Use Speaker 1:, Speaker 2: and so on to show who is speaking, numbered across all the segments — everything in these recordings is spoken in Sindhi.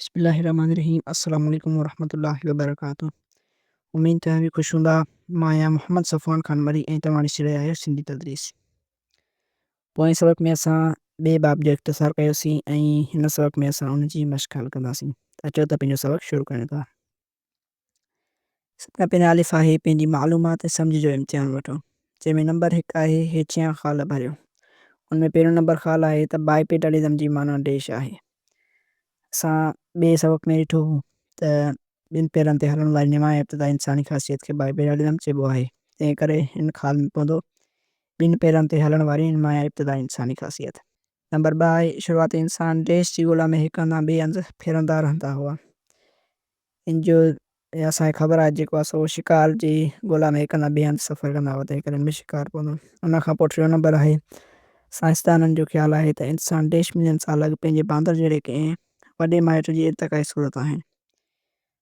Speaker 1: بسم الله الرحمن الرحيم السلام عليڪم ورحمة الله وبرڪاته اميد توهان خوش هوندا مان آهيان محمد صفوان خان مري ۽ توهان ڏسي رهيا آهيو سنڌي تدريس پوئين سبق ۾ اسان ٻئي باب جو اختصار ڪيوسين ۽ هن سبق ۾ اسان ان جي مشق حل ڪنداسين اچو ته پنهنجو سبق شروع ڪريون ٿا سڀکان پهريان الف آهي پنهنجي معلومات ۽ سمجهه جو امتحان وٺو، جنهن ۾ نمبر هڪ آهي هيٺيان خال ڀريو. ان ۾ پهريون نمبر خال آهي ته Bipedalism جي معنيٰ ڊيش آهي. اسان ٻئي سبق ۾ ڏٺو هو ته ٻن پيرن تي هلڻ واري نمايان ابتدائي انساني خاصيت کي Bipedalism چئبو آهي، تنهن ڪري هن خال ۾ پوندو، ٻن پيرن تي هلڻ واري نمايان ابتدائي انساني خاصيت. نمبر ٻه آهي شروعاتي انسان ڊيش جي ڳولا ۾ هڪ هنڌان ٻئي هنڌ ڦرندا رهندا هئا. ان جو يا اسان کي خبر آهي جيڪو آهي سو شڪار جي ڳولا ۾ هڪ هنڌان ٻئي هنڌ سفر ڪندا هئا تنهن ڪري ان ۾ شڪار پوندو. ان کان پوء ٽيون نمبر آهي سائنسدانن جو خيال آهي ته انسان ڊيش ملين سال اڳ پنهنجي باندر جهڙي ڪنهن وڏي مائٽ جي ارتقائي صورت آهن.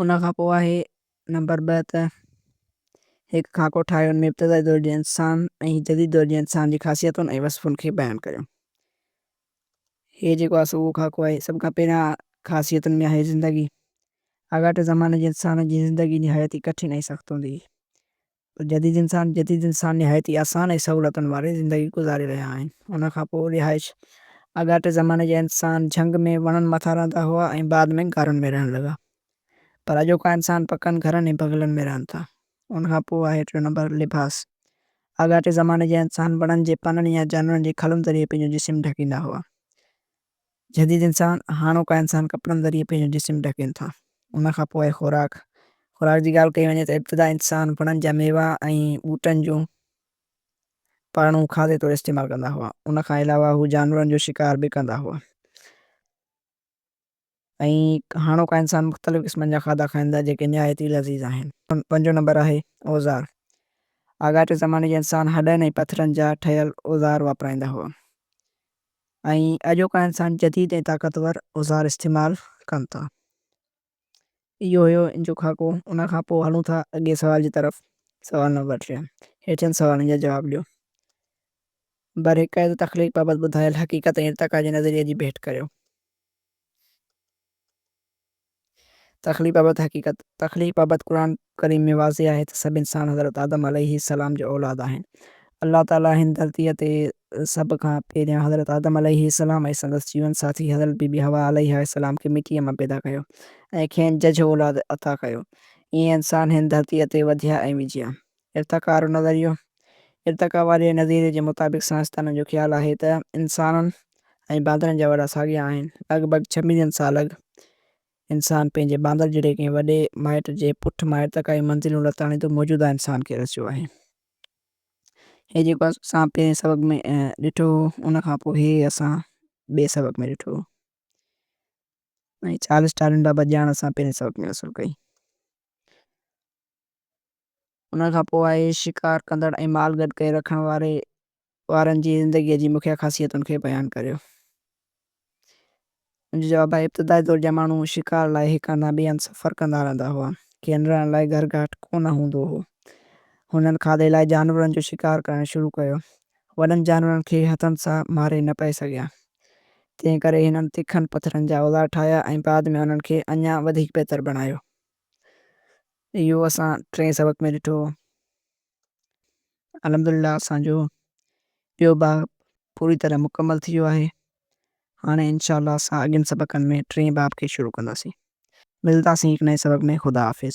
Speaker 1: ان کان پوء آهي نمبر ٻه ته هڪ خاڪو ٺاهيو ان ۾ ابتدائي دور جي انسان ۽ جديد دور جي انسان جي خاصيتن ۽ وصفن کي بيان ڪريو. هي جيڪو آهي سو اهو خاڪو آهي. سڀ کان پهريان خاصيتن ۾ آهي زندگي. آڳاٽي زماني جي انسان جي زندگي نهايت ئي ڪٺن ۽ سخت هوندي هئي. پر جديد انسان جديد انسان نهايت ئي آسان ۽ سهولتن واري زندگي گذاري رهيا آهن. ان کان پوء رهائش اڳاٽي زماني جا انسان جهنگ ۾ وڻن مٿان رهندا هئا ۽ بعد ۾ غارن ۾ رهڻ لڳا. پر اڄوڪا انسان پڪن گهرن ۽ بنگلن ۾ رهن ٿا. ان کان پوء آهي ٽيون نمبر لباس. اڳاٽي زماني جا انسان وڻن جي پنن يا جانورن جي کلن ذريعي پنهنجو جسم ڍڪيندا هئا. جديد انسان، هاڻوڪا انسان ڪپڙن ذريعي پنهنجو جسم ڍڪين ٿا. ان کان پوء خوراڪ، خوراڪ جي ڳالهه ڪئي وڃي ته ابتدا انسان وڻن جا ميوا ۽ ٻوٽن جون پاڙون کاڌي طور استعمال ڪندا هئا. ان کان علاوه هو جانورن جو شڪار به ڪندا هئا. ۽ هاڻوڪا انسان مختلف قسمن جا کاڌا کائين ٿا جيڪي نهايت ئي لذيذ آهن. پنجون نمبر آهي اوزار. آڳاٽي زماني جا انسان هڏن ۽ پٿرن جا ٺهيل اوزار واپرائيندا هئا ۽ اڄوڪا انسان جديد ۽ طاقتور اوزار استعمال ڪن ٿا. اهو هيو ان جو خاڪو. ان کان پوء هلون ٿا اڳئين سوال جي طرف. سوال نمبر ٽي. هيٺين سوالن جا جواب ڏيو. برحقيقت تخليق بابت ٻڌايل حقيقت ۽ ارتقا جي نظريي جي ڀيٽ ڪريو. تخليق بابت حقيقت، تخليق بابت قرآن ڪريم ۾ واضح آهي ته سڀ انسان حضرت آدم عليه السلام جا اولاد آهن. الله تعاليٰ هن ڌرتيء تي سڀ کان پهريان حضرت آدم عليه السلام ۽ سندس جيون ساٿي حضرت بيبي حوا عليها السلام کي مٽيء مان پيدا ڪيو ۽ کين ججهه اولاد عطا ڪيو. ائين انسان هن ڌرتيء تي وڌيا ۽ وجهيا. ارتقا وارو نظريو، ارتقا واري نظريي جي مطابق سائنسدانن جو خيال آهي ته انسانن ۽ باندرن جا وڏا ساڳيا آهن. لڳ ڀڳ ڇهه ملين سال اڳ انسان پنهنجي باندر جهڙي ڪنهن وڏي مائٽ جي پٺ مان ارتقائي منزلون لتاڙيندو موجوده انسان کي رسيو آهي. هي جيڪو اسان پهرين سبق ۾ ڏٺو هو ان کان پوء هي اسان ٻئي سبق ۾ ڏٺو هو ۽ چارلس ڊارون بابت ڄاڻ اسان پهرين سبق ۾ حاصل ڪئي. ان کان پوء آهي شڪار ڪندڙ ۽ مال گڏ ڪري رکڻ واري وارن جي زندگيء جي مکيه خاصيتن کي بيان ڪريو. ان جو جواب آهي، ابتدائي دور جا ماڻهو شڪار لاء هڪ هنڌان ٻئي هنڌ سفر ڪندا رهندا هئا. کين رهڻ لاء گهر گهاٽ ڪو نه هوندو هو. هنن کاڌي لاء جانورن جو شڪار ڪرڻ شروع ڪيو. وڏن جانورن کي هٿن سان ماري نه پئي سگهيا. تنهن ڪري هنن تکن پٿرن جا اوزار ٺاهيا ۽ بعد ۾ انهن کي اڃا وڌيڪ بهتر بڻايو. اهو اسان ٽئين سبق ۾ ڏٺو. الحمدلله اسان جو ٻيو باب پوري طرح مڪمل ٿي ويو آهي. هاڻي انشاء الله اسان اڳين سبقن ۾ ٽئين باب کي شروع ڪنداسين. ملنداسين هڪ نئين سبق ۾ خدا حافظ.